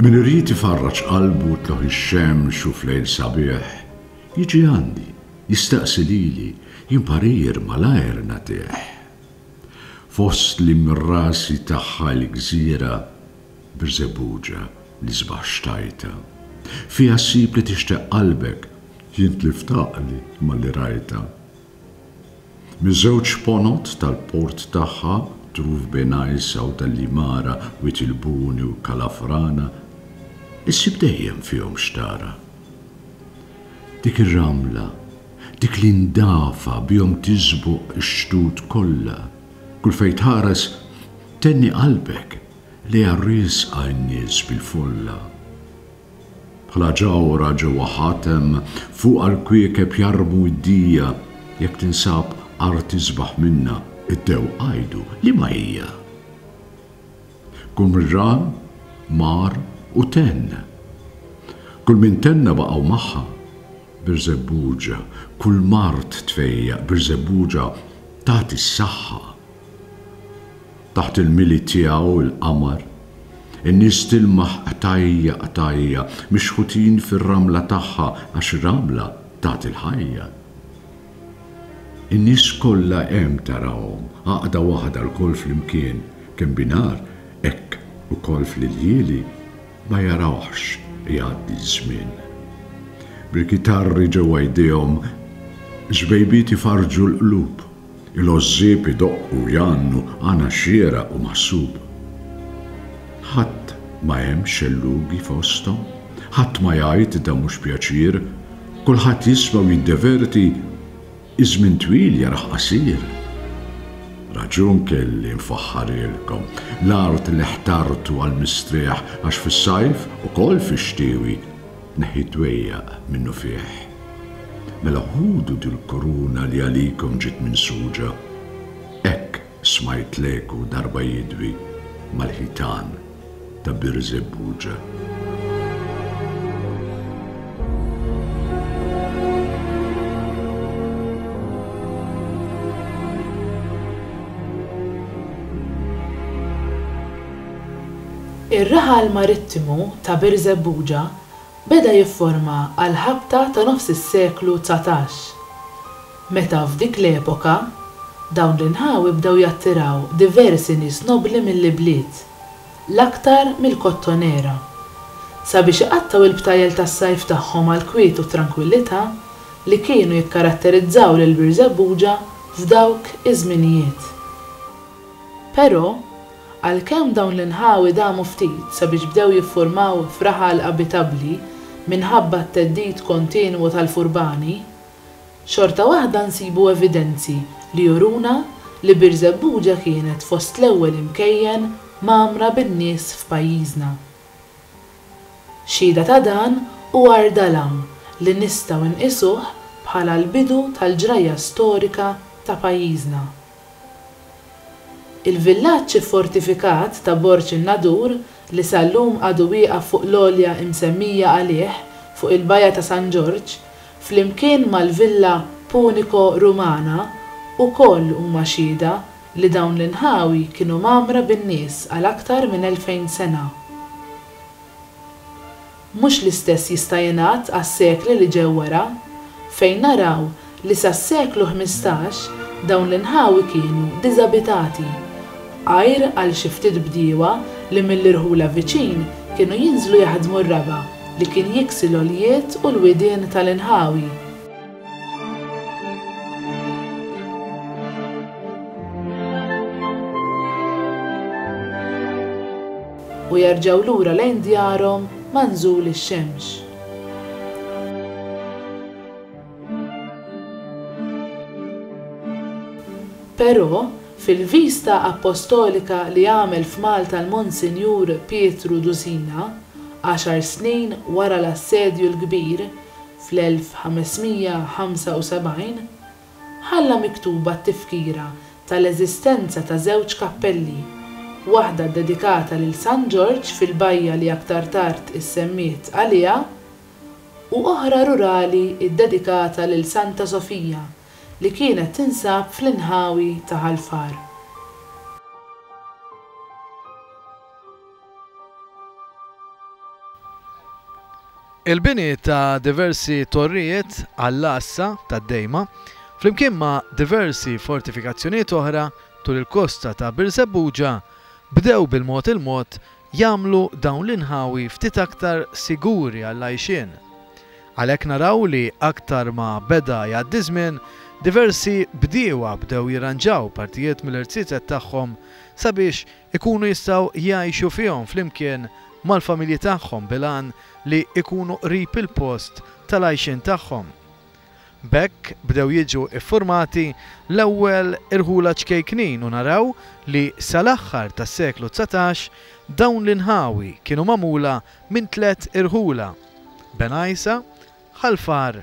Min irid ifarraġ qalbu u tlugħ ix-xemx u f'lejl sabiħ, jiġi għandi, jistaqsi lili, jien parir malajr nagħtih. Fost l-imrasi tagħha l-gżira, Birżebbuġa, l-isbaħ xtajtha. Fiha ssib li tixtaq qalbek, jien tlift għaqli malli rajtha. Miż-żewġ ponot tal-port tagħha, truf bejn Għajr Sewda l-Imara, Wied il-Buni u Kalafrana, issib dejjem fihom x'tara. Dik ir-ramla, dik li ndafa bihom tiżbuq ix-xtut kollha, kull fejn tħares tenni qalbek lejha riesqa n-nies bil-folla. Bħala ġawhra ġewwa ħatem, fuqha l-kwiekeb jarmu id-dija, jekk tinsab art isbaħ minnha, id-dewq għidu, liema hija? Qumran mar u tenn. Kull min tenna baqgħu magħha. Birżebbuġa, kull mard tfejjaq, Birżebbuġa tagħti s-saħħa. Taħt il-mili tiegħu l-qamar. In-nies tilmaħ qtajja qtajja, mixħutin fir-ramla tagħha għax ramla tagħti l-ħajja. In-nies kollha hemm tarahom, għaqda waħda lkoll flimkien, kemm binhar hekk ukoll fl-iljieli ma jarawhx jgħaddi ż-żmien. Bil-kitarri ġewwa jdejhom, żbejbiet ifarrġu l-qlub. Il-għożżieb idoqqu u jgħannu għana xieraq u maħsub. Ħadd ma hemm xellugi fosthom, ħadd ma jgħid dan mhux pjaċir, kulħadd jisma' u jiddeverti, iż-żmien twil jarah qasir. Raġun kelli nfaħħarilkom, l-art li ħtartu għall-mistrieħ għax fis-sajf, ukoll fix-xtiewi, Neħħi d-dwejjaq minnufih. Mela ħudu dil-kuruna li għalikom ġiet minsuġa. Hekk smajt l-eku darba jidwi mal-ħitan ta' Birżebbuġa. Ir-raħal marittimu ta' Birżebbuġa beda jifforma għall-ħabta ta' nofs is-seklu dsatax, meta f'dik l-epoka dawn l-inħawi bdew jattiraw diversi nies nobbli mill-ibliet, l-aktar mill-Kottonera, sabiex iqattgħu l-btajjel tas-sajf tagħhom għall-kwiet u t-trankwillità li kienu jikkaratterizzaw lil Birżebbuġa f'dawk iż-żminijiet. Però, Għalkemm dawn l-inħawi damu ftit sabiex bdew jiffurmaw f'raħal abitabbli minħabba t-theddid kontinwu tal-furbani, xorta waħda nsibu evidenzi li juruna li Birżebbuġa kienet fost l-ewwel imkejjen mgħammra bin-nies f'pajjiżna. Xhieda ta' dan hu għar dalam li nistgħu nqisuh bħala l-bidu tal-ġrajja storika ta' pajjiżna. Il-villaġġ iffortifikat ta' Borg in-Nadur, li sal-lum għadu wieqaf fuq l-għolja imsemmija għalih fuq il-bajja ta' San Ġorġ, flimkien mal-villa Punico-Rumana, ukoll huma xhieda li dawn l-inħawi kienu mgħammra bin-nies għal aktar minn elfejn sena. Mhux l-istess jista' jingħad għas-sekli li ġew wara, fejn naraw li sas-seklu ħmistax dawn l-inħawi kienu diżabitati, għajr għal xi ftit bdiewa li mill-irħula viċin kienu jinżlu jaħdmu r-raba' li kien jiksi l-għoljiet u l-widien tal-inħawi. u jerġgħu lura lejn djarhom ma' nżul ix-xemx. Però, fil-vista appostolika li għamel f'Malta l-Monsinjur Pietru Dusina, għaxar snin wara l-Assedju l-Kbir, fl-1575, Ħalla miktuba t-tifkira tal-eżistenza ta' żewġ kappelli, waħda ddedikata lil San Ġorġ fil-bajja li aktar tard issemmiet għaliha, u oħra rurali ddedikata lil Santa Sofija li kienet tinsab fl-inħawi ta' Ħal Far. Il-bini ta' diversi torrijiet għall-għassa tad-dejma, flimkien ma' diversi fortifikazzjonijiet oħra tul il-kosta ta' Birżebbuġa, bdew bil-mod il-mod jagħmlu dawn l-inħawi ftit aktar siguri għall-għajxien. Għalhekk naraw li aktar ma beda jgħaddi żmien, diversi bdiewa bdew jirranġaw partijiet mill-irziezet tagħhom sabiex ikunu jistgħu jgħixu fihom flimkien mal-familji tagħhom bil-għan li jkunu qrib il-post tal-għajxien tagħhom. B'hekk bdew jiġu ffurmati l-ewwel irħula ċkejknin u naraw li sal-aħħar tas-seklu dsatax dawn l-inħawi kienu magħmula minn tliet irħula, Benajsa, Ħal Far,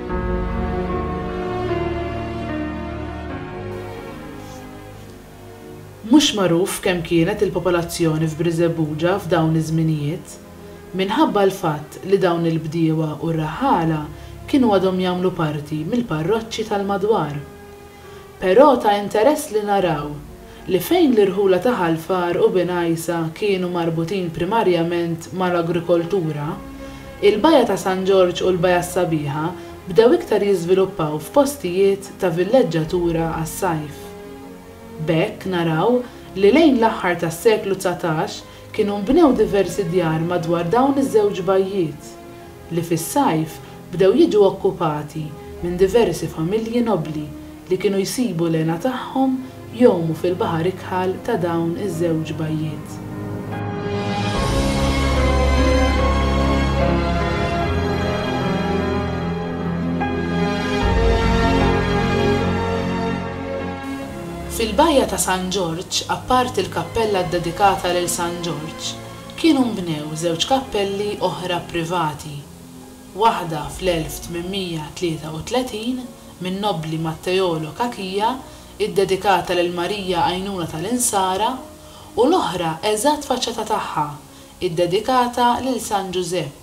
Mhux magħruf kemm kienet il-popolazzjoni f'Brizebbuġa f'dawn iż-żminijiet. Minħabba l-fatt li dawn il-bdiewa u r-raħħala kienu għadhom jagħmlu parti mill-parroċċi tal-madwar. Però ta' interess li naraw li fejn l-irħula ta' Ħal Far u Bin Għajsa kienu marbutin primarjament mal-agrikoltura, il-Baja ta' San Ġorġ u l-Baja s-Sabiħa bdew iktar jiżviluppaw f'postijiet ta' villeġġatura għas-sajf. B'hekk naraw li lejn l-aħħar tas-seklu dsatax Kienu nbnew diversi djar madwar dawn iż-żewġ bajjiet, li fis-sajf bdew jiġu okkupati minn diversi familji nobbli li kienu jsibu l-hena tagħhom jgħumu fil-baħar ikħal ta' dawn iż-żewġ bajjiet. Fil-Bajja ta' San Ġorġ, apparti l-kappella ddedikata lil San Ġorġ, kienu nbnew żewġ kappelli oħra privati, waħda fl-1833 min-nobbli Matteolo Cachia ddedikata lil Marija Għajnuna tal-Insara u l-oħra eżatt faċċata tagħha ddedikata lil San Ġużepp,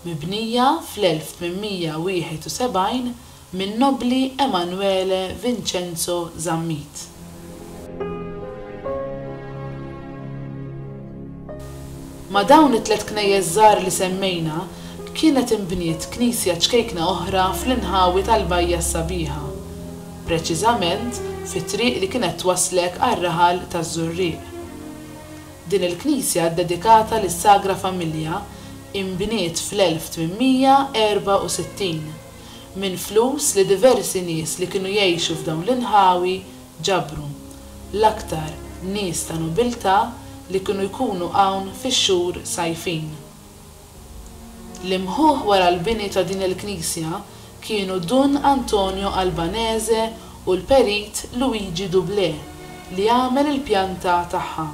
mibnija fl-1871 min-nobbli Emanuele Vincenzo Zammit. Ma' dawn it-tliet knejjes żgħar li semmejna kienet inbniet knisja ċkejkna oħra fl-inħawi tal-Bajja s-Sabiħa, preċiżament fit-triq li kienet twasslek għar-raħal taż-Żurrieq. Din il-knisja ddedikata lis-Sagra Familja inbniet fl-1864 minn flus li diversi nies li kienu jgħixu f'dawn l-inħawi ġabru, l-aktar nies ta' nobiltà li kienu jkunu hawn fix-xhur sajfin. L-imħuħ wara l-bini ta' din il-knisja kienu Dun Antonio Albanese u l-perit Luigi Doublé li għamel il-pjanta tagħha.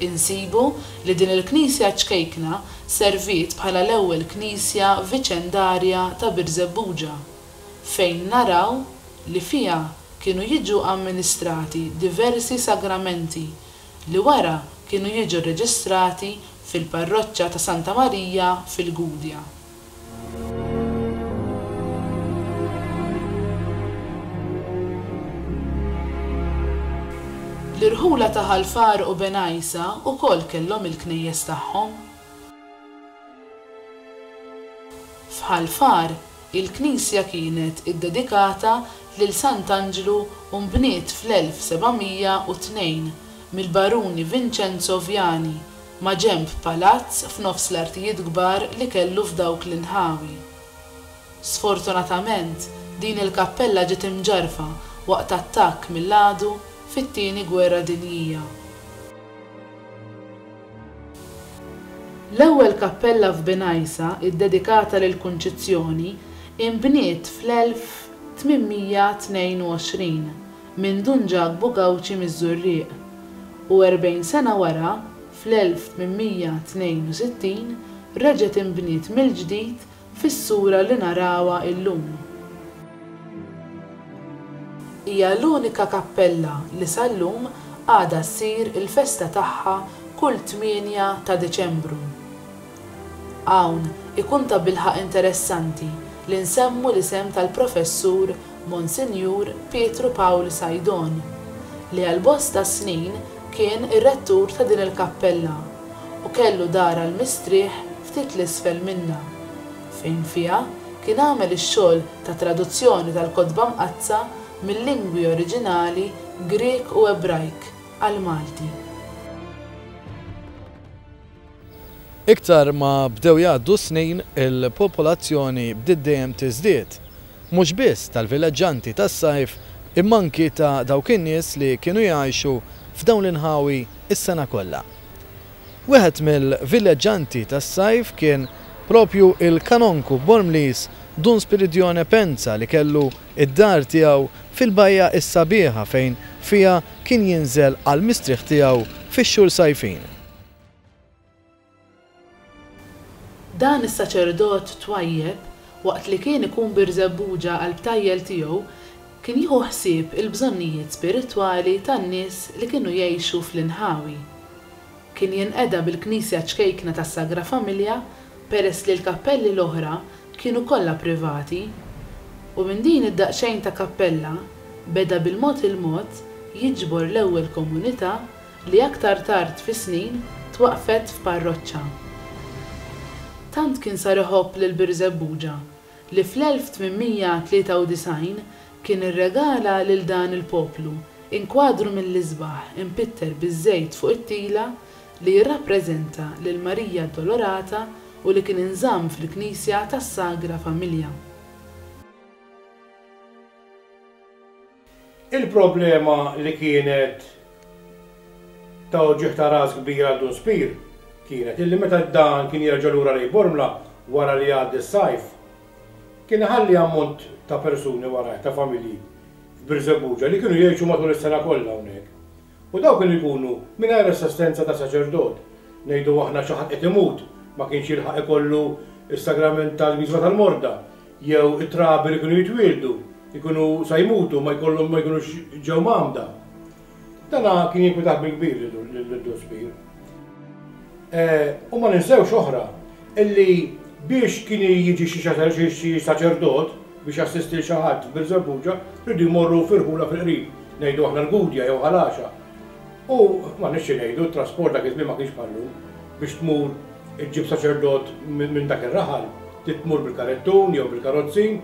Insibu li din il-knisja ċkejkna serviet bħala l-ewwel knisja viċendarja ta' Birżebbuġa, fejn naraw li fiha kienu jiġu amministrati diversi sagramenti li wara kienu jiġu rreġistrati fil-parroċċa ta' Santa Marija fil-Gudja. L-irħula ta' Ħal Far u Benajsa wkoll kellhom il-knejjes tagħhom. F'Ħal Far, il-knisja kienet iddedikata lil Sant'Anġlu u nbniet fl-1702 mill-Baruni Vincenzo Viani, maġenb palazz f'nofs l-artijiet kbar li kellu f'dawk l-inħawi. Sfortunatament, din il-kappella ġiet imġarrfa waqt attakk mill-għadu fit-Tieni Gwerra Dinjija. L-ewwel kappella f'Binajsa iddedikata lill-Kunċizzjoni inbniet fl-1822 minn Dun Ġakbu Gawċi miż-Żurrieq, u erbgħin sena wara, fl-1862, reġgħet inbniet mill-ġdid fis-sura li narawha llum. Hija l-unika kappella li sal-lum għadha ssir il-festa tagħha kull tmienja ta' Diċembru. Hawn ikun tabilħaqq interessanti li nsemmu l-isem tal-Professur Monsinjur Pietru Pawl Sajdon, li għal bosta snin kien ir-rettur ta' din il-kappella u kellu dar għall-mistrieħ ftit 'l isfel minnha, fejn fiha kien għamel ix-xogħol ta' traduzzjoni tal-Kotba Mqaddsa mil-lingwi oriġinali Grieg u Ebrajk għall-Malti. Iktar ma bdew jgħaddu s-snin, il-popolazzjoni bdiet dejjem tiżdied, mhux biss tal-vileġġanti tas-sajf imma anki ta' dawk in-nies li kienu jgħixu f'dawn l-inħawi s-sena kollha. Wieħed mill-vileġġanti tas-sajf kien propju il-Kanonku Bormliż Dun Spiridione Penza li kellu d-dar tiegħu fil-Bajja is-Sabiħa fejn fiha kien jinżel għall-mistrieħ tiegħu fix-xhur sajfin. Dan is-saċerdot twajjeb waqt li kien ikun Birżebbuġa għall-btajjel tiegħu Kien jieħu ħsieb il-bżonnijiet spiritwali tan-nies li kienu jgħixu fl-inħawi. Kien jinqeda bil-knisja ċkejkna tas-Sagra Familja peress li l-kappelli l-oħra kienu kollha privati. U minn din id-daqsxejn ta' kappella beda bil-mod il-mod jiġbor l-ewwel komunità li aktar tard fis-snin twaqqfet f'parroċċa. Tant kien sar iħobb lil Birżebbuġa li fl-1893 kien irregala lil dan il-poplu inkwadru mill-isbaħ impitter biż-żejt fuq it-tila li jirrappreżenta lil Marija Addolorata u li kien inżamm fil-knisja tas-Sagra Familja. Il-problema li kienet ta' uġigħ ta' ras kbir għal Dun Spear kienet illi meta dan kien jerġa' lura lejn Bormla wara li jgħaddi s-sajf, kien iħalli ammont ta' persuni warajh, ta' familji f'Birżebbuġa li kienu jgħixu matul is-sena kollha hawnhekk. U dawk li jkunu mingħajr assistenza ta' saċerdot, ngħidu aħna xi ħadd qed imut, ma kienx jilħaq ikollu s-sagrament tal-Wisla tal-Morda, jew it-trabi li kienu jitwieldu, jkunu sa jmutu ma jkollhom ma jkunux ġew mgħammda. Dan kien jinkwitah bil-kbir lid-Dun Spier. U ma ninsewx oħra, illi biex kien jiġi xi saċerdot biex jassisti 'l xi ħadd f'Birżebbuġa, riedu jmorru f'irħula fil-qrib, ngħidu aħna l-Gudja jew Ħal Għaxa. U m'għandniex xi ngħidu, t-trasport dak iż-żmien ma kienx bħal-lum, biex tmur iġġib saċerdot minn dak ir-raħal, trid tmur bil-karettun jew bil-karozzin,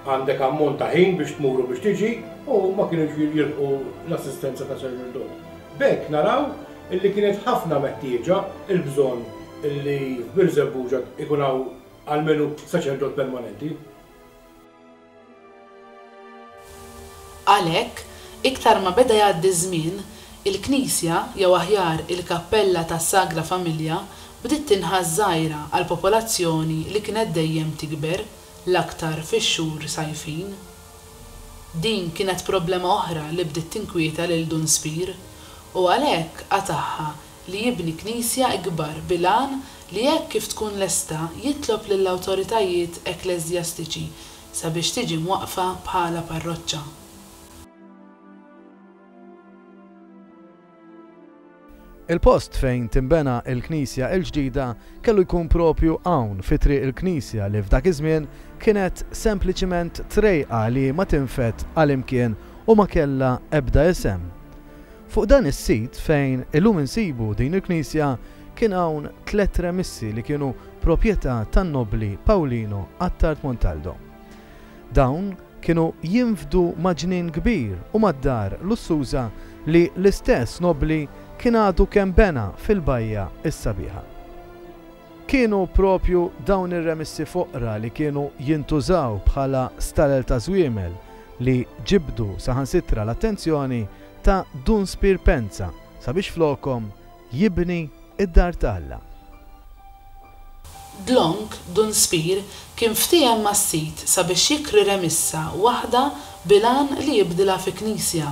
għandek ammont ta' ħin biex tmur u biex tiġi, u ma kienux jilħqu l-assistenza ta' saċerdot. B'hekk naraw illi kienet ħafna meħtieġa l-bżonn illi f'Birżebbuġa jkun hawn almenu saċerdot permanenti. Għalhekk, iktar ma beda jgħaddi ż-żmien, il-knisja, jew aħjar il-kappella tas-Sagra Familja, bdiet tinħass żgħira għall-popolazzjoni li kienet dejjem tikber, l-aktar fix-xhur sajfin. Din kienet problema oħra li bdiet tinkwieta lil Dun Spear, u għalhekk qatagħha li jibni knisja ikbar bil-għan li hekk kif tkun lesta jitlob lill-awtoritajiet ekkleżjastiċi sabiex tiġi mwaqqfa bħala parroċċa. Il-post fejn tinbena l-knisja l-ġdida kellu jkun proprju hawn fi Triq il-Knisja li f'dak iż-żmien kienet sempliċiment trejqa li ma tinfed għal imkien u ma kellha ebda isem. Fuq dan is-sit fejn illum insibu din il-knisja kien hawn tliet remissi li kienu proprjetà tan-nobbli Paulino Attard Montaldo. Dawn kienu jinfdu ma' ġnien kbir u mad-dar lussuża li l-istess nobbli kien għadu kemm bena fil-bajja s-sabiħa. Kienu proprju dawn ir-remissi foqra li kienu jintużaw bħala stalel ta' żwiemel li ġibdu saħansitra l-attenzjoni ta' Dun Spier Penza sabiex flokhom jibni d-dar ta' Alla. Dlonk, Dun Spear, kien ftiehem mas-Sid sabiex jikri remissa waħda bil-għan li jibdilha fi knisja.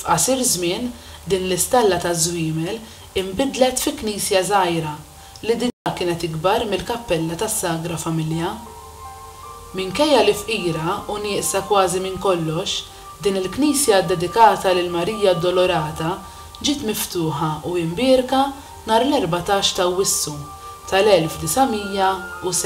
F'qasir żmien, din l-istalla taż-żwiemel inbidlet fi knisja żgħira, li diġà kienet ikbar mill-kappella tas-Sagra Familja. Minkejja li fqira u nieqsa kważi minn kollox, din il-knisja ddedikata lil Marija Addolorata ġiet miftuħa u imbierka nhar l-erbatax ta' Awwissu tal-1907.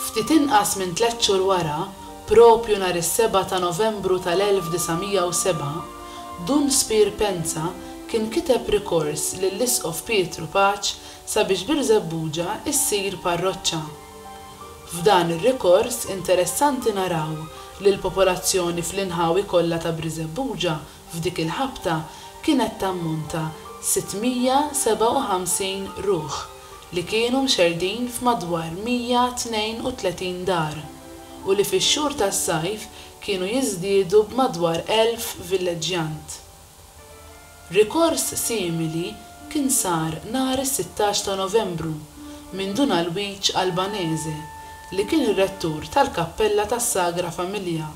Ftit inqas minn tliet xhur wara, proprju nhar is-seba' ta' Novembru tal-1907, Dun Spier Penza kien kiteb rikors lill-Isqof Pietru Paċ sabiex Birżebbuġa ssir parroċċa. F'dan ir-rikors interessanti naraw li l-popolazzjoni fl-inħawi kollha ta' Briżebbuġa F'dik il-ħabta kienet tammonta 657 ruħ li kienu mxerrdin f'madwar 132 dar u li fix-xhur tas-sajf kienu jiżdiedu b'madwar 1,000 villeġġjant. Rikors simili kien sar nhar is-sittax ta' Novembru minn Dun Alwiġ Albanese li kien ir-rettur tal-Kappella tas-Sagra Familja.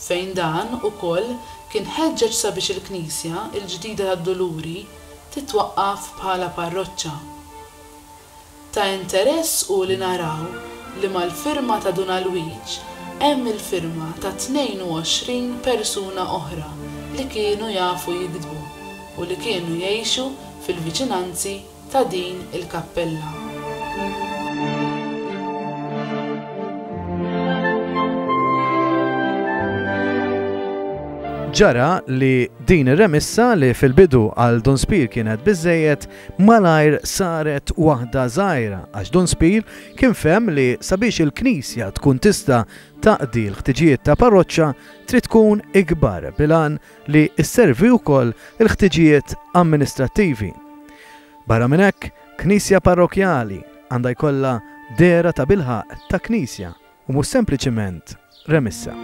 fejn dan, ukoll, kien ħeġġeġ sabiex il-Knisja l-ġdida tad-Duluri titwaqqaf bħala parroċċa. Ta' interess hu li naraw li mal-firma ta' Dun Alwiġ hemm il-firma ta' 22 persuna oħra li kienu jafu jiktbu u li kienu jgħixu fil-viċinanzi ta' din il-kappella. Ġara li din ir-remissa li fil-bidu għal Dun Spir kienet biżejjed malajr saret waħda żgħira għax Dun Spir kien fem li sabiex il-Knisja tkun tista' taqdi l-ħtiġijiet ta' parroċċa trid tkun ikbar bilan li sservi wkoll il-ħtiġijiet amministrattivi. Barra minn hekk, knisja parrokjali għandha jkollha dehra tabilħaqq ta' knisja u mhux sempliċiment remissa.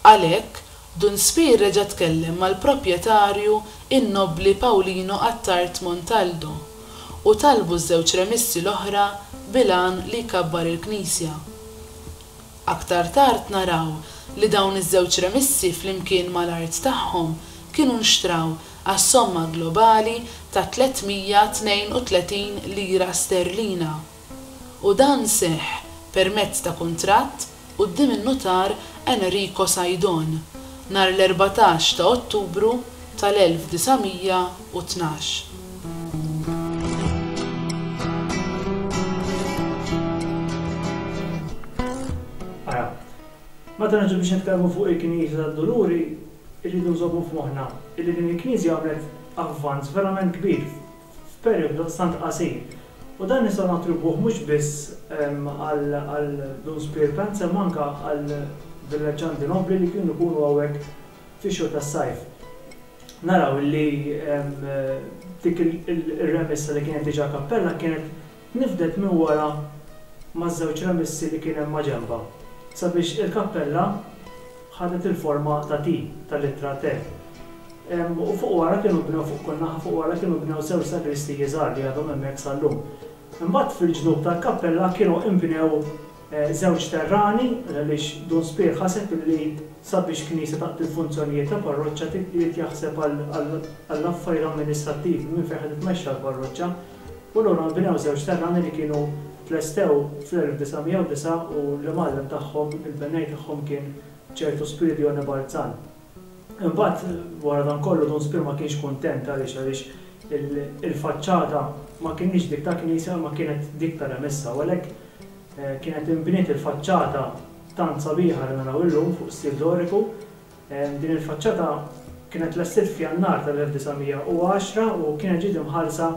Għalhekk, Dun Spear reġa' tkellem mal-proprjetarju n-Nobbli Paulino Attard Montaldo u talbu ż-żewġ remissi l-oħra bil-għan li jkabbar il-knisja. Aktar tard naraw li dawn iż-żewġ remissi flimkien mal-art tagħhom kienu nxtraw għas-somma globali ta' 332 lira sterlina. u dan seħħ permezz ta' kuntratt quddiem in-Nutar Enrico Saidon nhar l-erbatax ta' Ottubru tal-1912. Ara, meta niġu biex nitkellmu fuq il-Knisja tad-Duluri, irridu nżommu f'moħħna illi din il-Knisja għamlet avvanz verament kbir f'perijodu daqstant qasir. U dan nistgħu nattribwuh mhux biss għal Dun Spier Pants imma anke għal villaġġanti nobbli li kienu jkunu hawnhekk fix-xhur tas-sajf. Naraw li dik ir-remissa li kienet diġà kappella kienet Tniffdet minn wara maż-żewġ remissi li kien hemm maġenbha sabiex il-kappella ħadet il-forma ta' T, tal-ittra T. U fuq wara kienu bnew, fuq kull naħa fuq wara kienu bnew żewġ sagristiji żgħar li għadhom hemmhekk sal-lum. Imbagħad fil-ġnub tal-kappella kienu inbnew żewġ terrani għaliex Dun Spier ħaseb li sabiex knisja taqdi l-funzjonijiet ta' parroċċa trid jaħseb għall-affarijiet amministrattivi minn fejn ħa titmexxa l-parroċċa. U lura nbnew żewġ terrani li kienu tlestew fl-1909 u l-imgħallem tagħhom, il-bennej tagħhom kien ċertu Spiridione Balzan. Imbagħad, wara dan kollu, Dun Spir ma kienx kuntent, għaliex? Għaliex il-faċċata ma kinitx dik ta' knisja imma kienet dik ta' remessa u għalhekk kienet inbniet il-faċċata tant sabiħa li naraw illum fuq stil doriku, Din il-faċċata kienet tlestiet f'Jannar tal-1910 u kienet ġiet imħallsa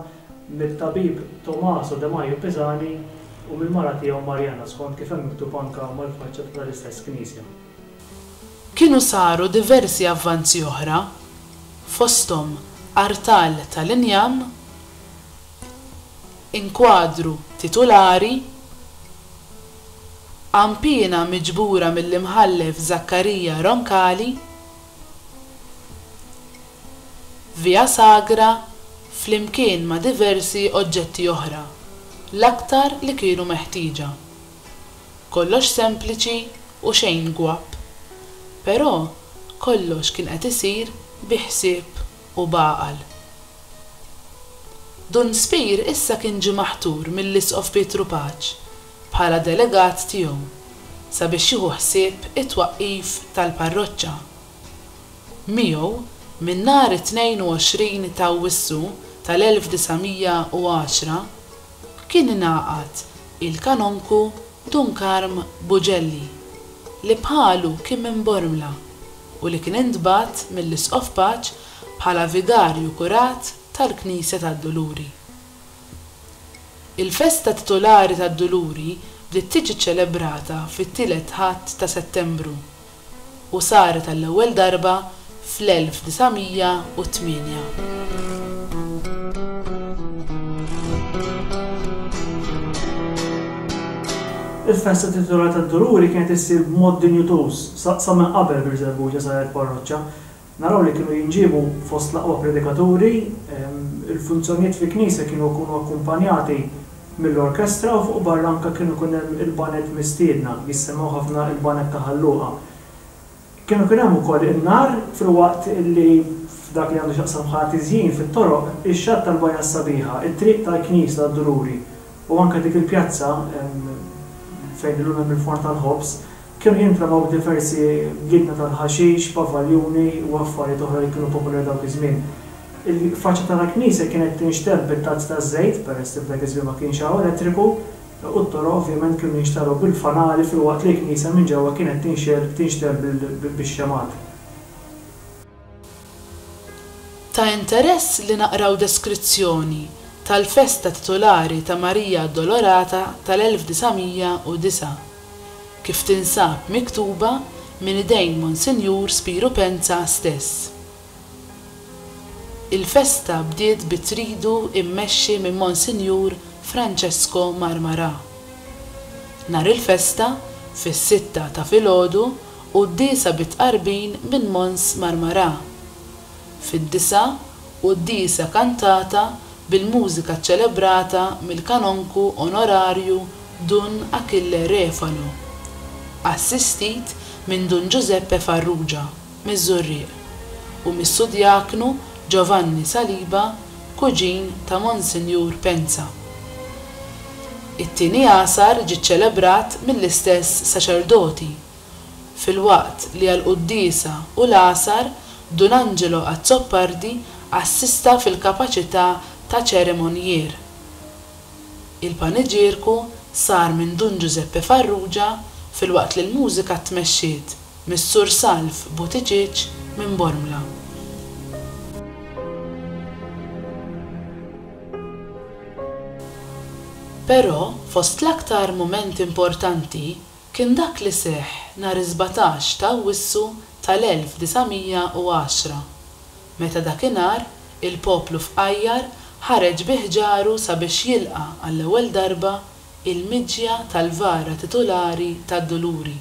mit-tabib Tommaso de Majo Pisani u mill-mara tiegħu Marjana, skont kif hemm miktub anke mal-faċċata tal-istess knisja. Kienu saru diversi avvanzi oħra, fosthom artal tal-injam, inkwadru titulari, Għan piena miġbura mill-Imħallef Zaccaria Roncalli, Via Sagra, flimkien ma' diversi oġġetti oħra, l-aktar li kienu meħtieġa. Kollox sempliċi u xejn gwapp, però kollox kien qed isir bi ħsieb. u b'għaqal. Dun Spir issa kien ġie maħtur mill-Isqof Pietru Paċ bħala delegat tiegħu sabiex jieħu ħsieb it-twaqqif tal-parroċċa. Miegħu, minn nhar it-22 t'Awwissu tal-1910, kien ingħaqad il-Kanonku Dun Karm Buġelli, li bħalu kien minn Bormla. u li kien intbagħat mill-Isqof Paċ bħala Vigarju Kurat tal-Knisja tad-Duluri. Il-festa titulari tad-Duluri bdiet tiġi ċċelebrata fit-Tielet Ħadd ta' Settembru u saret għall-ewwel darba fl-1908. Il-festa titulari tad-Duluri kienet issir b'mod dinjutuż Sa sa minn qabel Birżebbuġa saret parroċċa. Naraw li kienu jinġiebu fost l-aqwa predikaturi, il-funzjonijiet fi knisja kienu jkunu akkumpanjati mill-orkestra u fuq barra anke kienu jkun hemm il-baned mistiedna, jissemmgħu ħafna il-baned ta' Ħal Luqa. Kienu jkun hemm ukoll in-nar filwaqt li f'dak li għandu x'jaqsam bħala tiżjin fit-toroq, ix-xatt tal-Bajja s-Sabiħa, it-triq tal-knisja tad-Dururi u anke dik il-pjazza fejn illum hemm il-forn tal-ħobż, Kienu jintramaw diversi ginna tal-ħaxix, pavaljuni u affarijiet oħra li kienu popolari dawk iż-żmien. Il-faċċata tal-knisja kienet tinxtemm bit-tazz taż-żejt, peress li f'dak iż-żmien ma kienx hawn elettriku, u t-toroq ovvjament kienu jinxtarew bil-fanali filwaqt li l-knisja minn ġewwa kienet tinxtemm bix-xemgħat. Ta' interess li naqraw deskrizzjoni tal-festa titulari ta' Marija Addolorata tal-1909, kif tinsab miktuba minn idejn Monsinjur Spiru Penza stess. Il-festa bdiet bi tridu immexxi minn Monsinjur Francesco Marmarà. Nhar il-festa, fis-sitta ta' filgħodu, u d-disa bi tqarbin minn Mons Marmarà. Fid-disa u d-disa kantata bil-mużika ċċelebrata mill-Kanonku Onorarju Dun Achille Refalo, assistit minn Dun Ġużeppe Farrugia miż-Żurrieq u mis-Sudjaknu Giovanni Saliba kuġin ta' Monsinjur Pensa. It-Tieni Għasar ġie ċċelebrat mill-istess saċerdoti. filwaqt li għall-quddiesa u l-għasar Dun Angelo Azzopardi assista fil-kapaċità ta' ċerimonjier. Il-paniġierku sar minn Dun Ġużeppe Farrugia filwaqt li l-mużika tmexxiet mis-Sur Salv Buttigieg minn Bormla. Però fost l-aktar mumenti importanti, Kien dak li seħħ nhar is-sbatax ta' Awwissu tal-1910, meta dakinhar il-poplu fqajjar ħareġ bi ħġaru sabiex jilqa' għall-ewwel darba il-miġja tal-vara titulari tad-Duluri,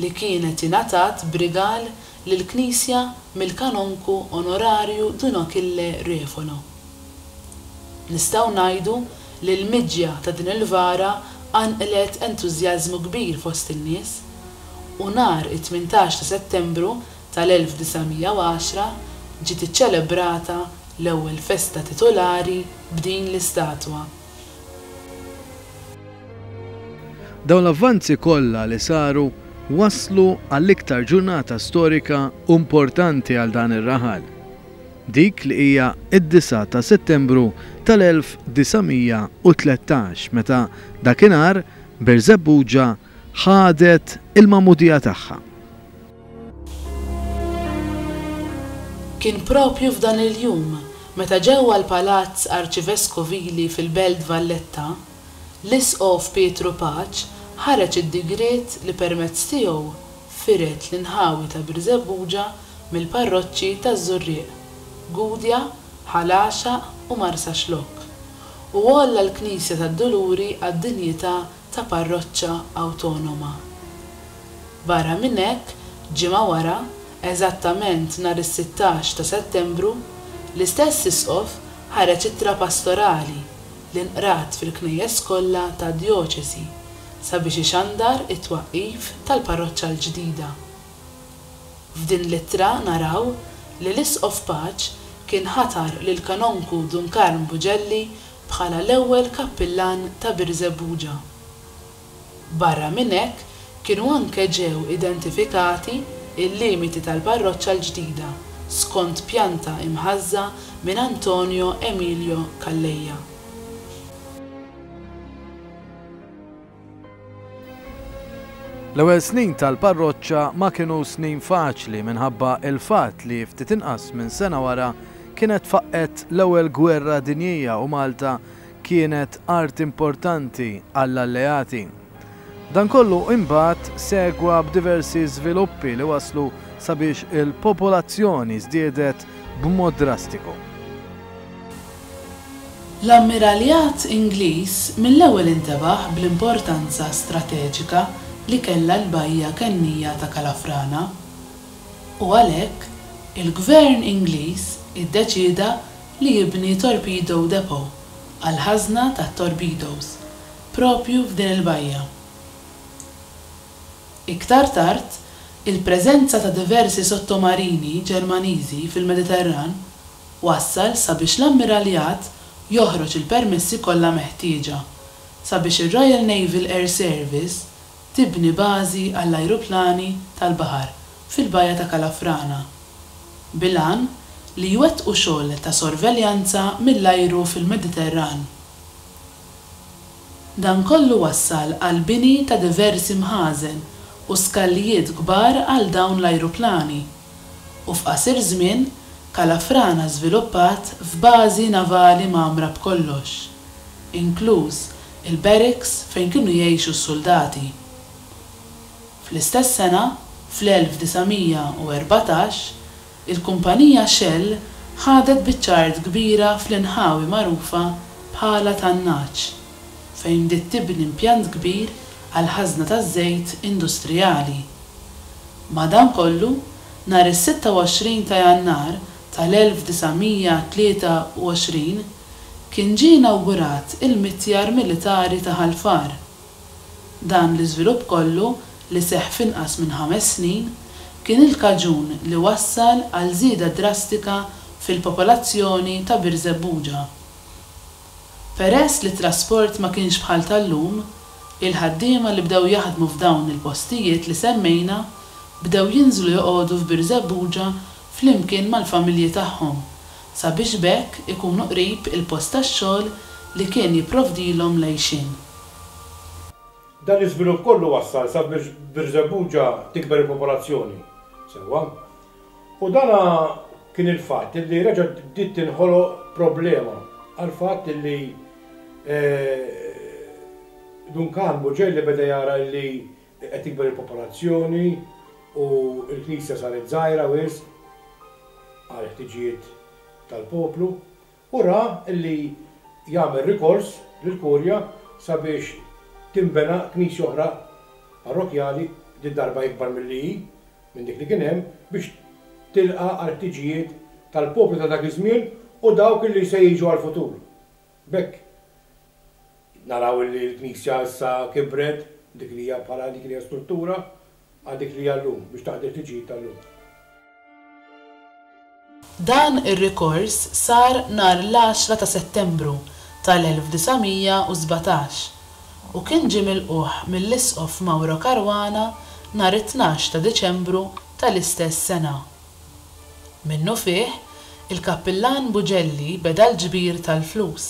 li kienet ingħatat b'rigal lill-Knisja mill-Kanonku Onorarju Dun Achille Refolo. Nistgħu ngħidu L-ilmiġja ta' din il-vara qanqlet entużjażmu kbir fost in-nies, u nhar it-tmintax ta' Settembru tal-1910 ġiet iċċelebrata l-ewwel festa titulari b'din l-istatwa. Dawn l-avvanzi kollha li saru wasslu għall-iktar ġurnata storika u importanti għal dan ir-raħal. dik li hija d-disgħa ta' Settembru tal-1913 meta dakinhar Birżebbuġa ħadet il-magħmudija tagħha. Kien proprju f'dan il-jum meta ġewwa l-Palazz Arċiveskovili fil-Belt Valletta, l-Isqof Pietru Paċ ħareġ id-digriet li permezz tiegħu Firet l-inħawi ta' Birżebbuġa mill-parroċċi taż-Żurrieq, Gudja, Ħal Għaxaq u Marsaxlokk, u għolla l-Knisja tad-Duluri għad-dinjità ta' parroċċa awtonoma. Barra minn hekk, ġimgħa wara, eżattament nhar is-sittax ta' Settembru, l-istess Isqof ħareġ ittra pastorali li nqrat fil-knejjes kollha tad-djoċesi, sabiex ixandar it-twaqqif tal-parroċċa l-ġdida. F'din l-ittra naraw li l-Isqof Paċ kien ħatar lill-Kanonku Dun Karm Buġelli bħala l-ewwel Kappillan ta' Birżebbuġa. Barra minn hekk kienu anke ġew identifikati l-limiti tal-parroċċa l-ġdida skont pjanta imħażża minn Antonio Emilio Calleja. L-ewwel snin tal-parroċċa ma kienu snin faċli minħabba l-fatt li ftit inqas minn sena wara kienet faqqgħet l-ewwel gwerra dinjija u Malta kienet art importanti għall-Alleati. Dan kollu imbagħad segwa b'diversi żviluppi li waslu sabiex il-popolazzjoni żdiedet b'mod drastiku. L-Ammiraljat Ingliż mill-ewwel intebaħ bl-importanza strateġika li kellha l-bajja kennija ta' Kalafrana, u għalhekk, il-Gvern Ingliż iddeċieda li jibni torpedo depot għall-ħażna tat-torpedoes proprju f'din il-bajja. Iktar tard, il-preżenza ta' diversi sottomarini Ġermaniżi fil-Mediterran wassal sabiex l-Ammiraljat joħroġ il-permessi kollha meħtieġa sabiex ir-Royal Naval Air Service tibni bażi għall-ajruplani tal-baħar fil-Bajja ta' Kalafrana bil-għan li jwettqu xogħol ta' sorveljanza mill-ajru fil-Mediterran. Dan kollu wassal għall-bini ta' diversi mħażen u skallijiet kbar għal dawn l-ajruplani. u f'qasir żmien Kalafrana żviluppat f'bażi navali mgħammra b'kollox, inkluż il-barracks fejn kienu jgħixu s-suldati. Fl-istess sena, fl-1914, il-kumpanija Shell ħadet biċċa art kbira fl-inħawi magħrufa bħala Tan-Nagħaġ. fejn bdiet tibni impjant kbir għall-ħażna taż-żejt industrijali. Madankollu, nhar is-26 ta' Jannar tal-1923, kien ġie inawgurat il-mitjar militari ta' Ħal Far. Dan l-iżvilupp kollu, li seħħ f'inqas minn ħames snin, kien il-kaġun li wassal għal żieda drastika fil-popolazzjoni ta' Birżebbuġa. Peress li t-trasport ma kienx bħal tal-lum, il-ħaddiema li bdew jaħdmu f'dawn il-postijiet li semmejna bdew jinżlu joqogħdu f'Birżebbuġa flimkien mal-familji tagħhom sabiex b'hekk ikunu qrib il-post tax-xogħol li kien jipprovdilhom l-għixien. Dan l-iżvilupp kollu wassal sabiex f'Birżebbuġa tikber il-popolazzjoni sewwa. U dan kien il-fatt illi reġa' bdiet tinħoloq problema għall-fatt illi Duncan Bugelli beda jara illi qed tikber il-popolazzjoni u l-knisja saret żgħira wisq għall-ħtiġijiet tal-poplu u ra li jagħmel rikors lill-Kurja sabiex tinbena knisja oħra parrokkjali, din darba ikbar milli hi, minn dik li kien hemm, biex tilqa' għall-ħtiġijiet tal-poplu ta' dak iż-żmien u dawk li se jiġu għall-futur. B'hekk naraw li l-knisja issa kibret, dik li hija bħala dik li hija struttura, Għal dik li hija llum, biex taqdi l-ħtiġijiet tal-lum. Dan ir-rikors sar nhar l-għaxra ta' Settembru tal-1917 u kien ġie milqugħ mill-Isqof Mauro Caruana nhar it-tnax ta' Diċembru tal-istess sena. Minnufih, il-Kappillan Bugelli beda l-ġbir tal-flus.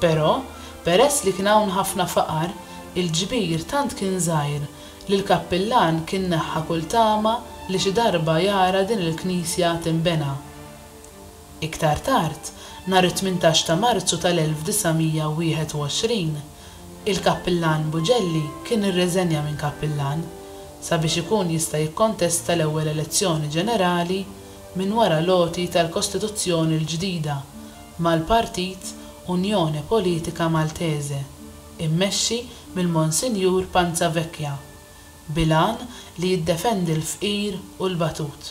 Però, peress li kien hawn ħafna faqar, il-ġbir tant kien żgħir li l-Kappillan kien neħħa kull tama li xi darba jara din il-knisja tinbena. Iktar tard, nhar it-tmintax ta' Marzu tal-1921, il-Kappillan Bugelli kien irreżenja minn Kappillan sabiex ikun jista' jikkontesta l-ewwel elezzjoni ġenerali minn wara l-għoti tal-Kostituzzjoni l-ġdida mal-partit Unione Politica Maltese immexxi mill-Monsinjur Panzavecchia bil-għan li jiddefendi l-fqir u l-batut.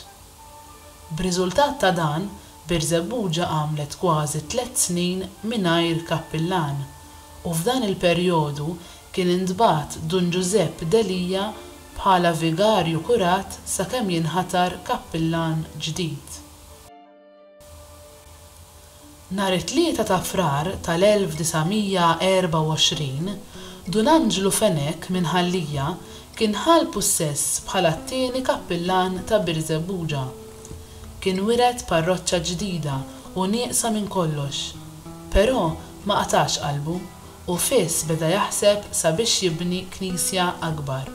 B'riżultat ta' dan, Birżebbuġa għamlet kważi tliet snin mingħajr kappillan u f'dan il-perjodu kien intbagħat Dun Ġużepp Delia bħala vigarju kurat sakemm jinħatar kappillan ġdid. Nhar it-Tlieta ta' Frar tal-1924, Dun Anġlu Fenech minn Ħal-Lija kien ħa l-pussess bħala t-tieni kappillan ta' Birżebbuġa. Kien wiret parroċċa ġdida u nieqsa minn kollox. Però ma qatax qalbu u fiss beda jaħseb sabiex jibni knisja akbar.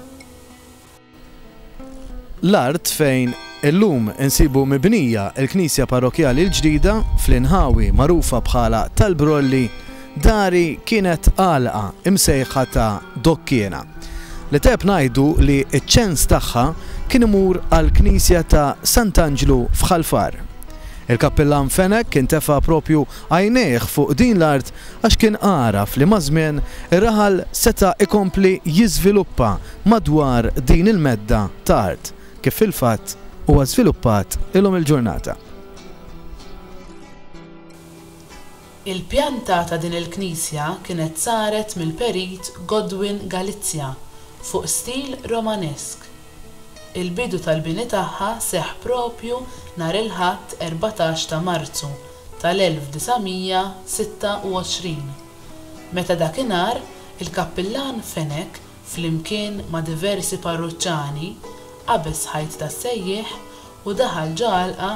L-art fejn illum insibu mibnija l-knisja parrokkjali l-ġdida fl-inħawi magħrufa bħala tal-Brolli dari kienet għalqa imsejħa ta' Dokkiena li tajjeb ngħidu li ċ-ċens tagħha kien imur għall-knisja ta' Sant'Anġlu f'Ħal Far. Il-Kappillan Fenech kien tefa' propju għajnejh fuq din l-art għax kien għaraf li maż-żmien ir-raħal seta' jkompli jiżviluppa madwar din il-medda ta' art kif fil-fatt huwa żviluppat illum il-ġurnata. Il-pjanta ta' din il-knisja kienet saret mill-perit Godwin Galizia fuq stil Romanesk. Il-bidu tal-bini tagħha seħħ proprju nhar il-Ħadd 14 ta' Marzu tal-1926, meta dakinhar il-kappillan Fenech flimkien ma' diversi parruċċani, qabeż ħajt tas-sejjieħ u daħal ġo għalqa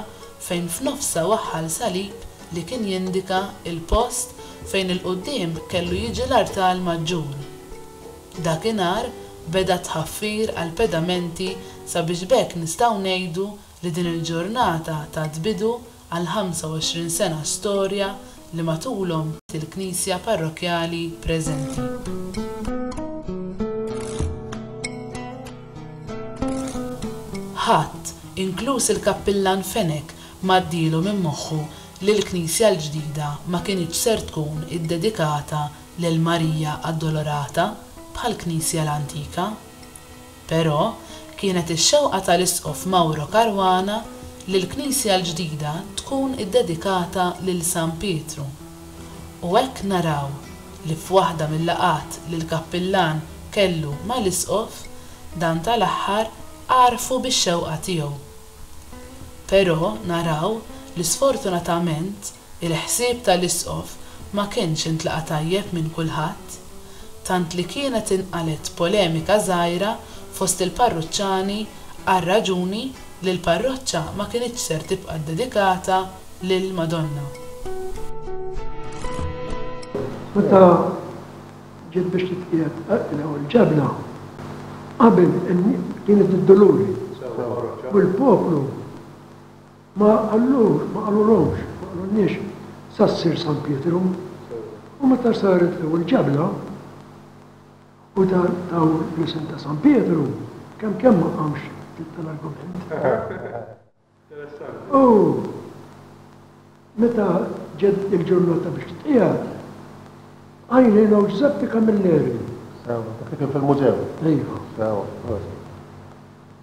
fejn f'nofsha waħħal salib li kien jindika l-post fejn 'il quddiem kellu jiġi l-artal maġġur. Dakinhar beda t-tħaffir għall-pedamenti sabiex b'hekk nistgħu ngħidu li din il-ġurnata tat bidu għall-25 sena storja li matulhom il-Knisja Parrokkjali preżenti. Ħadd, inkluż il-Kappillan Fenech m'għaddielu minn moħħu li l-knisja l-ġdida ma kinitx ser tkun iddedikata lil Marija Addolorata bħall-knisja l-antika. Però, kienet ix-xewqa tal-Isqof Mauro Caruana li l-knisja l-ġdida tkun iddedikata lil San Pietru. U hekk naraw li f'waħda mil-laqgħat li l-kappillan kellu mal-Isqof, dan tal-aħħar għarrfu bix-xewqa tiegħu. Però, naraw li sfortunatament, Il-ħsieb tal-Isqof ma kienx intlaqa' tajjeb minn kulħadd, tant li kienet inqalgħet polemika żgħira fost il-parruċċani għar-raġuni li l-parroċċa ma kinitx ser tibqa' ddedikata lill-Madonna. Meta ġiet biex titqiegħed l-ewwel ġebla, qabel kienet id-Duluri, u l-poplu Ma qalux, ma qalulhomx, ma qalulniex sa ssir San Pietru. U meta saret l-ewwel ġabla, u taw l-isem ta' San Pietru, kemm kemm ma qamx ftit tal-argument. U meta ġiet il-ġurnata biex titqiegħed, għajnejna u Ġużeppi Camilleri. Sewa, dak li kien fil-mużew. Iva. Sewa, prosit.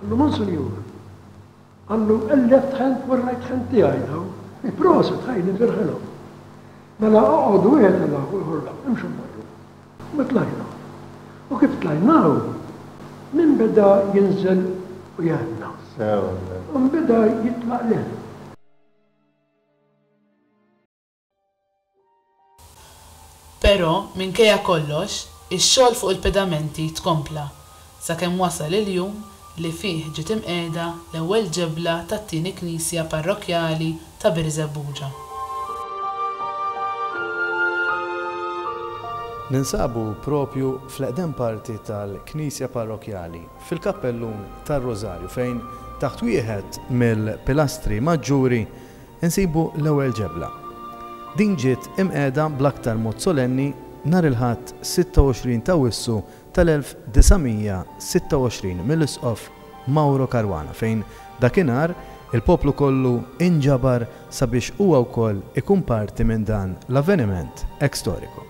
Qallu, Monsinjur, qallu, il-left hand u r-right hand tiegħi dawn. Proset, ħaj, nifirħilhom. Mela oqgħod wieħed ilha u ieħor la, imxu mmorru. U ma tlajna. U kif tlajnaw, min beda jinżel u jgħanna. U mbeda jitlaq l Però, minkejja kollox, ix-xogħol fuq il-pedamenti tkompla, sakemm wasal il-jum li fih ġiet imqiegħda l-ewwel ġebla tat-tieni knisja parrokkjali ta' Birżebbuġa. Ninsabu proprju fl-eqdem parti tal-knisja parrokkjali, fil-kappellun tar-Rużarju fejn, taħt wieħed mill-pilastri maġġuri, Insibu l-ewwel ġebla. Din ġiet imqegħda bl-aktar mod solenni nhar il-Ħadd 26 t'Awwissu tal-1926 mill-Isqof Mauro Caruana fejn dakinhar il-poplu kollu inġabar sabiex huwa wkoll ikun parti minn dan l-avveniment hekk storiku.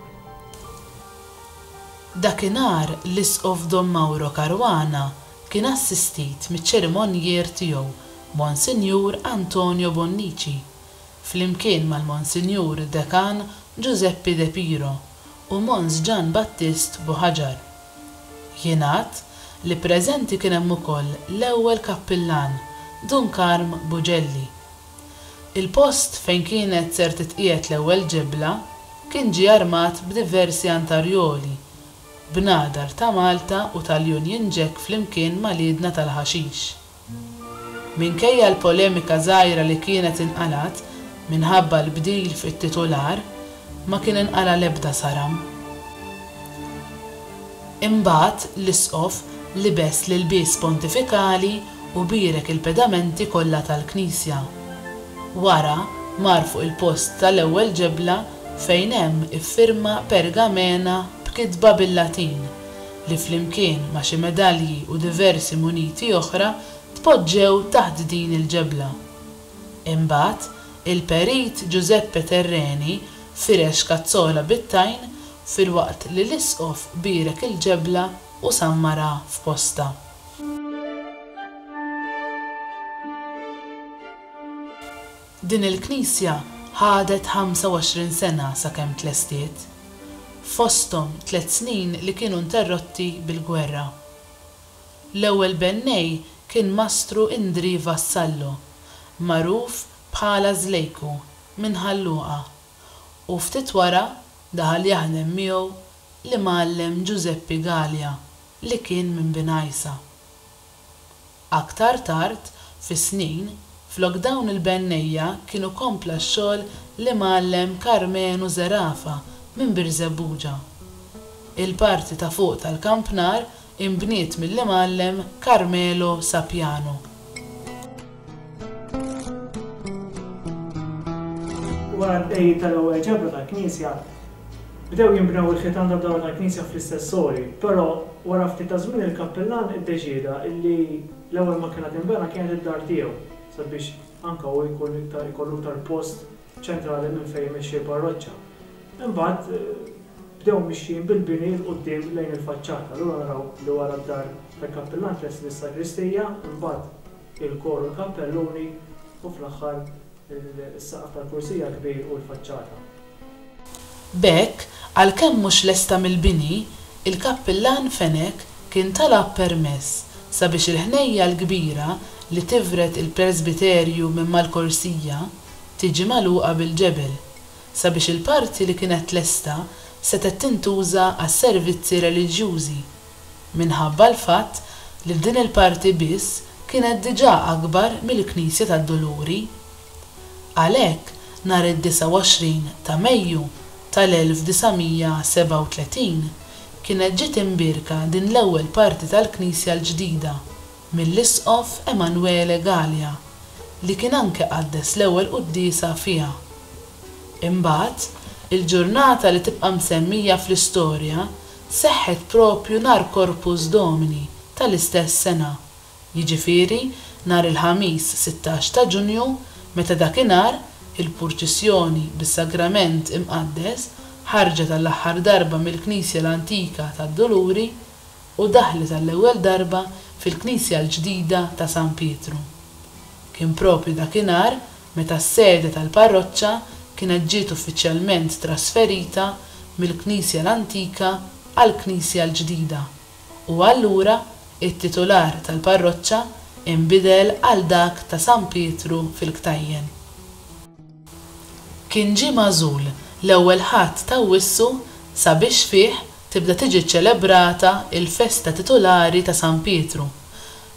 Dakinhar l-Isqof Dom Mauro Caruana Kien assistit miċ-ċerimonjier tiegħu Monsinjur Antonio Bonnici, flimkien mal-Monsinjur Dekan Giuseppe De Piro u Mons Jan Battist Buhaġar. Jingħad li preżenti kien hemm ukoll l-ewwel Kappillan Dun Karm Bugelli. Il-post fejn kienet ser titqiegħed l-ewwel ġebla kien ġie armat b'diversi antarjoli Bnadar ta' Malta u tal-Union Jack flimkien mal-idna tal-ħaxix. Minkejja l-polemika żgħira li kienet inqalgħet minħabba l-bdil fit-titular, ma kien inqala' l-ebda saram. Imbagħad l-Isqof libes l-ilbies pontifikali u bierek il-pedamenti kollha tal-knisja. Wara mar fuq il-post tal-ewwel ġebla fejn hemm iffirma pergamena b'kitba bil-Latin, li flimkien ma' xi medalji u diversi muniti oħra tpoġġew taħt din il-ġebla. Imbagħad, il-Perit Ġużeppe Terreni firex kazzola bit-tajn filwaqt li l-Isqof bierek il-ġebla u sammarha f'postha. Din il-knisja ħadet 25 sena sakemm tlestiet, fosthom tliet snin li kienu interrotti bil-gwerra. L-ewwel bennej kien Mastru Indrì Vassallo, magħruf bħala Żlejku, minn Ħal Luqa, u ftit wara daħal jaħdem miegħu l-Imgħallem Ġużeppi Galea li kien minn Binajsa. Aktar tard fis-snin, flok dawn il-bennejja kienu kompla x-xogħol l-Imgħallem Karmenu Zerafa minn Birżebbuġa. Il-parti ta' fuq tal-kampnar inbniet mill-Imgħallem Carmelo Sapiano. Wara l-bqegħid tal-ewwel ġebla tal-knisja, bdew jinbnew il-ħitan tad-dahar tal-knisja fl-istess ori, però wara ftit ta' żmien il-kappillan iddeċieda li l-ewwel ma kienet tinbena kienet id-dar tiegħu sabiex anke hu jkun iktar ikollu iktar post ċentrali minn fejn imexxi l-parroċċa. Imbagħad bdew mixjin bil-bini 'l quddiem lejn il-faċċata. Allura naraw li wara d-dar tal-kappillan tlesti bis-sagristija, imbagħad, il-kor u l-kampelluni u fl-aħħar is-saqaf tal-kursija l-kbir u l-faċċata. B'hekk, għalkemm mhux lesta mill-bini, il-kappillan Fenech kien talab permess sabiex il-ħnejja l-kbira li tivred il-presbiterju minn mal-korsija tiġi magħluqa bil-ġebel sabiex il-parti li kienet lesta setgħet tintuża għas-servizzi reliġjużi minħabba l-fatt li f'din il-parti biss kienet diġà akbar mill-Knisja tad-Duluri. Għalhekk, nhar id-29 ta' Mejju tal-1937 kienet ġiet imbierka din l-ewwel parti tal-knisja l-ġdida mill-Isqof Emanuele Galea li kien anke qaddes l-ewwel quddiesa fiha. Imbagħad, il-ġurnata li tibqa' msemmija fl-istorja seħħet proprju nhar Corpus Domini tal-istess sena, jiġifieri nhar il-Ħamis sittax ta' Ġunju meta dakinhar il-purċissjoni bis-Sagrament Imqaddes ħarġet għall-aħħar darba mill-Knisja l-Antika tad-Duluri u daħlet għall-ewwel darba fil-Knisja l-ġdida ta' San Pietru. Kien proprju dakinhar Meta s-sede tal-parroċċa kienet ġiet uffiċjalment trasferita mill-knisja l-antika għall-knisja l-ġdida, u allura t-titular tal-parroċċa inbidel għal dak ta' San Pietru fil-Ktajjen. Kien ġie magħżul l-ewwel Ħadd t'Awwissu sabiex fih tibda tiġi ċċelebrata l-festa titulari ta' San Pietru.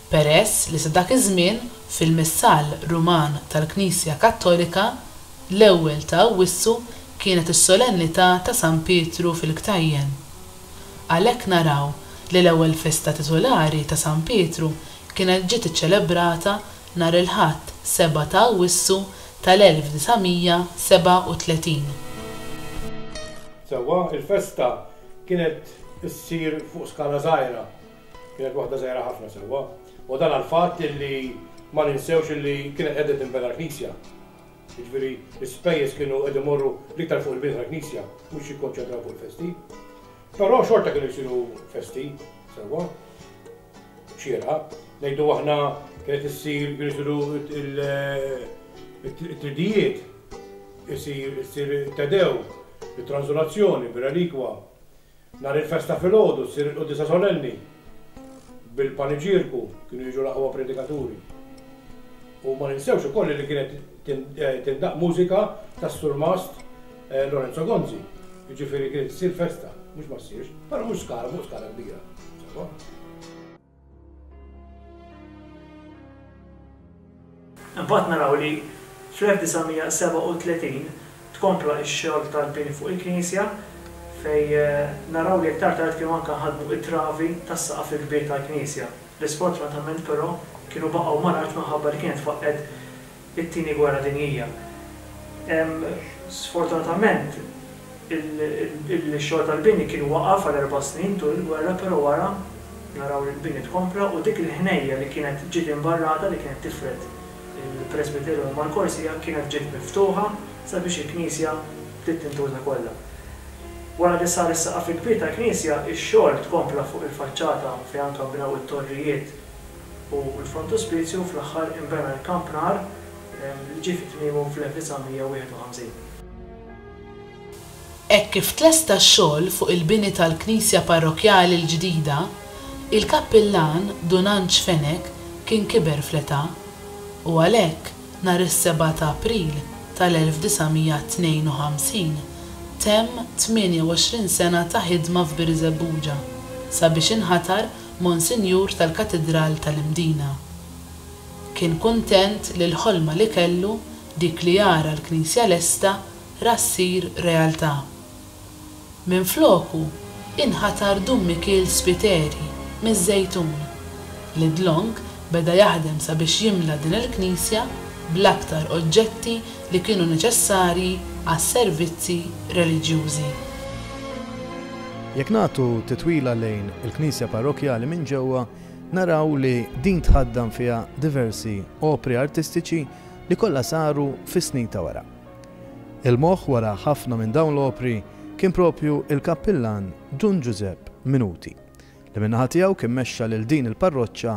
peress li sa dak iż-żmien, fil-Missal Ruman tal-Knisja Kattolika, l-ewwel ta' Awwissu kienet is-Solennità ta' San Pietru fil-Ktajjen. Għalhekk naraw li l-ewwel festa titulari ta' San Pietru kienet ġiet iċċelebrata nhar il-Ħadd 7 ta' Awwissu tal-1937. Sewwa, il-festa kienet issir fuq skala żgħira. Kienet waħda żgħira ħafna sewwa, u dan għall-fatt li ma ninsewx li kienet qiegħda tinbena l-knisja. Jiġifieri l-ispejjeż kienu qed imorru l-iktar fuq il-bini tal-knisja, mhux jikkonċentraw fuq il-festi. Però xorta kienu jsiru festi sewwa, xierqa, ngħidu aħna kienet issir kienu jsiru il-tridijiet, isir tedew, it-tranżolazzjoni, bir-relikwa, Nhar il-festa filgħodu ssir il-Quddiesa Solenni bil-paniġierku, kienu jiġu l-aqwa predikaturi. U ma ninsewx ukoll li kienet tindaqq mużika tas-Surmast eh, Lorenzo Gonzi. Jiġifieri kienet issir festa, mhux ma ssirx, però mhux skala fuq skala kbira. Imbagħad naraw li fl-1937 tkompla x-xogħol tal-bini fuq il-knisja fejn naraw li iktar tard kienu anke nħaddmu t-travi tas-saqaf il-kbir tal-knisja li sfortunatament però kienu baqgħu mal-art minħabba li kienet tfaqqgħet it-Tieni Gwerra Dinjija. Sfortunatament, ix-xogħol tal-bini kien waqaf għal erba' snin tul il-gwerra, però wara naraw li l-bini tkompla u dik il-ħnejja li kienet ġiet imbarrata li kienet tifred il-presbiterju minn Malkorsia kienet ġiet miftuħa sabiex il-knisja bdiet tintuża kollha. Wara li sar is-saqaf il-kbir tal-knisja, ix-xogħol tkompla fuq il-faċċata fejn anke nbnew it-torrijiet u l-frontuspizju u fl-aħħar inbena l-kampnar li ġie fi tmiemu fl-1951. Hekk kif tlesta x-xogħol fuq il-bini tal-knisja parrokkjali l-ġdida, il-kappillan Dun Anġ Fenech kien kiber fl-età u għalhekk nhar is-seba' ta' April tal-1952 temm 28 sena ta' ħidma f'Birżebbuġa sabiex inħatar Monsinjur tal-Katidral tal-Imdina. Kien kuntent li l-ħolma li kellu, dik li jara l-knisja lesta, ra ssir realtà. Minfloku, inħatar Dun Mikiel Spiteri, miż-Żejtun, li dlonk beda jaħdem sabiex jimla din il-knisja bl-aktar oġġetti li kienu neċessarji għas-servizzi reliġjużi. Jekk nagħtu titwila lejn il-knisja parrokkjali minn ġewwa, naraw li din tħaddan fiha diversi opri artistiċi li kollha saru fis-snin ta' wara. Il-moħħ wara ħafna minn dawn l-opri kien proprju l-kappillan Dun Ġużepp Minuti, li min-naħa tiegħu kien mexxa lil din il-parroċċa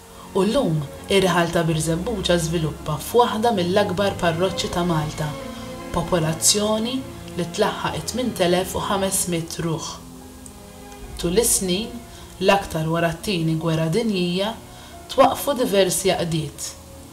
u llum ir-raħal ta' Birżebbuġa żviluppa f'waħda mill-akbar parroċċi ta' Malta, b'popolazzjoni li tlaħħaq it-8,500 ruħ. Tul is-snin, l-aktar wara t-Tieni Gwerra Dinjija, twaqqfu diversi għaqdiet,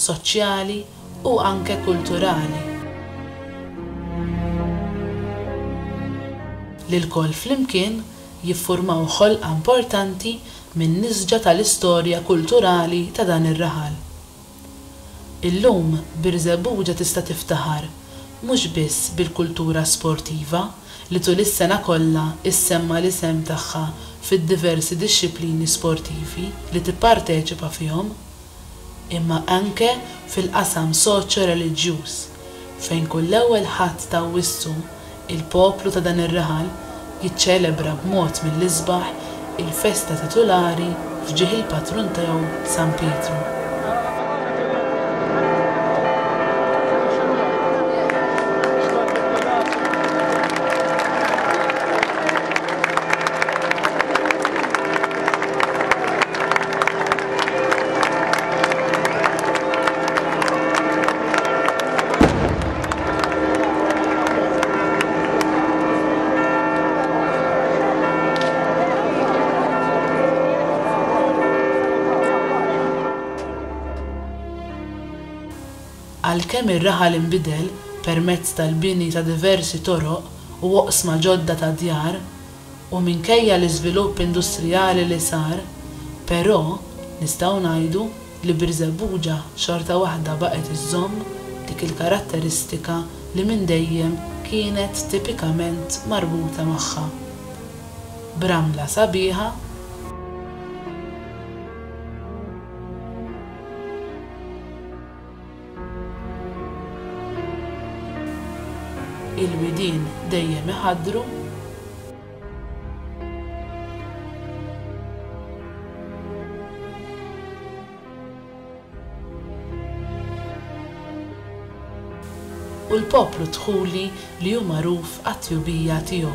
soċjali u anke kulturali li lkoll flimkien jiffurmaw ħolqa importanti min-nisġa tal-istorja kulturali ta' dan ir-raħal. Illum Birżebbuġa tista' tiftaħar mhux biss bil-kultura sportiva li tul is-sena kollha ssemma' l-isem tagħha fid-diversi dixxiplini sportivi li tipparteċipa fihom, imma anke fil-qasam soċjo-reliġjuż. fejn kull Ewwel Ħadd ta' Awwissu il-poplu ta' dan ir-raħal jiċċelebra b'mod mill-isbaħ il-festa titulari f'ġieħ il-patrun tiegħu San Pietru. Għalkemm ir-raħal inbidel permezz tal-bini ta' diversi toroq u oqsma ġodda ta' djar, u minkejja l-iżvilupp industrijali li sar, però, nistgħu ngħidu, li Birżebbuġa xorta waħda baqgħet iżżomm dik il-karatteristika li minn dejjem kienet tipikament marbuta magħha, b'ramla sabiħa, il-widien dejjem iħaddru, u l-poplu dħuli li hu magħruf għat-tjubija tiegħu.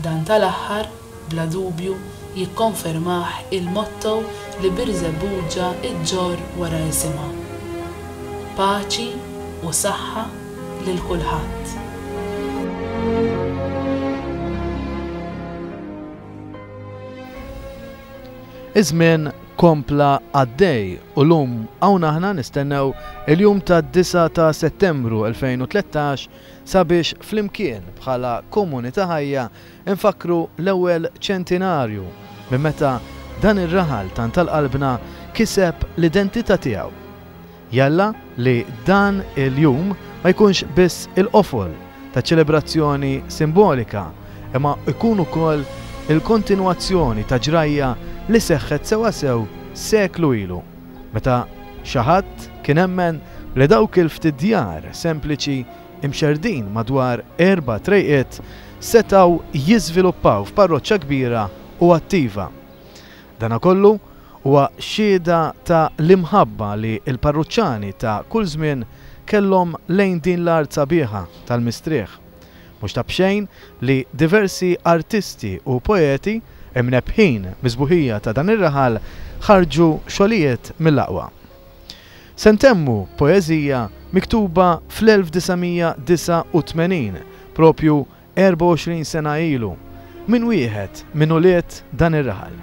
Dan tal-aħħar, bla dubju, jikkonfermah il-motto li Birżebbuġa ġġorr wara isimha, Paċi u saħħa lil kulħadd. Iż-żmien kompla għaddej u lum hawn aħna nistennew il-jum tad-9 ta' Settembru 2013 sabiex flimkien bħala komunità ħajja nfakkru l-ewwel ċentinarju minn meta dan ir-raħal tant tal-qalbna kiseb l-identità tiegħu. Jalla li dan il-jum ma jkunx biss il-qofol ta' ċelebrazzjoni simbolika, imma jkun ukoll il-kontinwazzjoni ta' ġrajja li seħħet sewwasew seklu ilu, meta xi ħadd kien emmen li dawk il-ftit djar sempliċi mxerrdin madwar erba' trejqiet setgħu jiżviluppaw f'parroċċa kbira u attiva. Dana kollu huwa xhieda ta' l-imħabba li l-parruċċani ta' kull żmien kellhom lejn din l-art sabiħa tal-mistrieħ. Mhux ta' b'xejn li diversi artisti u poeti, imnebbħin mis-sbuħija ta' dan ir-raħal, ħarġu xogħlijiet mill-aqwa. Se ntemmu b'poeżija miktuba fl-1989, propju 24 sena ilu, minn wieħed minn ulied dan ir-raħal.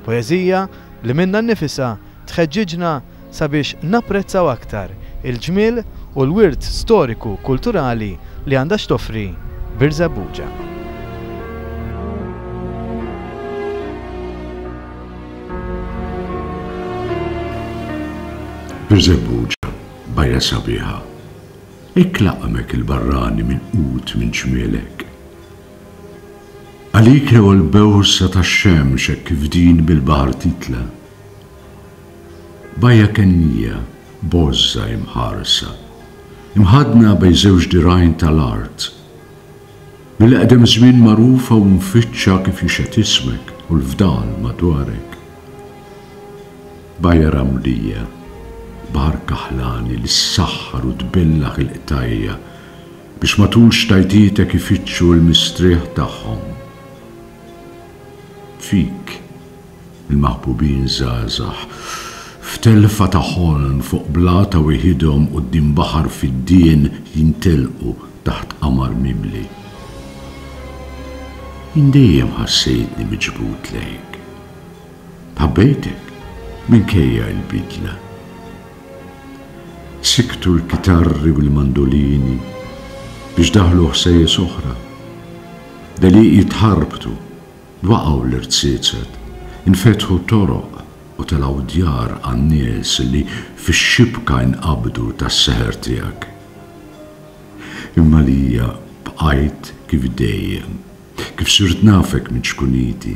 Poeżija li minnha nnifisha tħeġġiġna sabiex napprezzaw aktar il-ġmiel u l-wirt storiku kulturali li għandha x'toffri Birżebbuġa. Birżebbuġa, bajja sabiħa. Hekk laqqmek il-barrani milqut minn ċmielek. Għalik rewa l-bewsa tax-xemx hekk kif din bil-baħar titla'. Bajja kennija, bożża imħarsa, imħaddna bejn żewġ dirgħajn tal-art. Mill-eqdem żmien magħrufa u mfittxa kif jixhed ismek u l-fdal madwarek. Bajja ramlija, baħar kaħlani li ssaħħar u tbellaħ il-qtajja' biex matul xtajtietek ifittxu l-mistrieħ tagħhom. Fik, il-maħbubin żgħażagħ, f'telfa ta' ħolm fuq blat ta' wieħidhom quddiem baħar fiddien jintelqu taħt qamar mimli. Jien dejjem ħassejtni miġbud lejk. Ħabbejtek minkejja l-bidla. Sikktu l-kitarri u l-mandolini biex daħlu ħsejjes oħra. Deliqi tħarbtu, waqgħu l-irziezet, infetħu toroq u telgħu djar għan-nies li fix-xibka inqabdu tas-seħer tiegħek. Imma għalija bqajt kif dejjem, kif sirt nafek minn ċkuniti.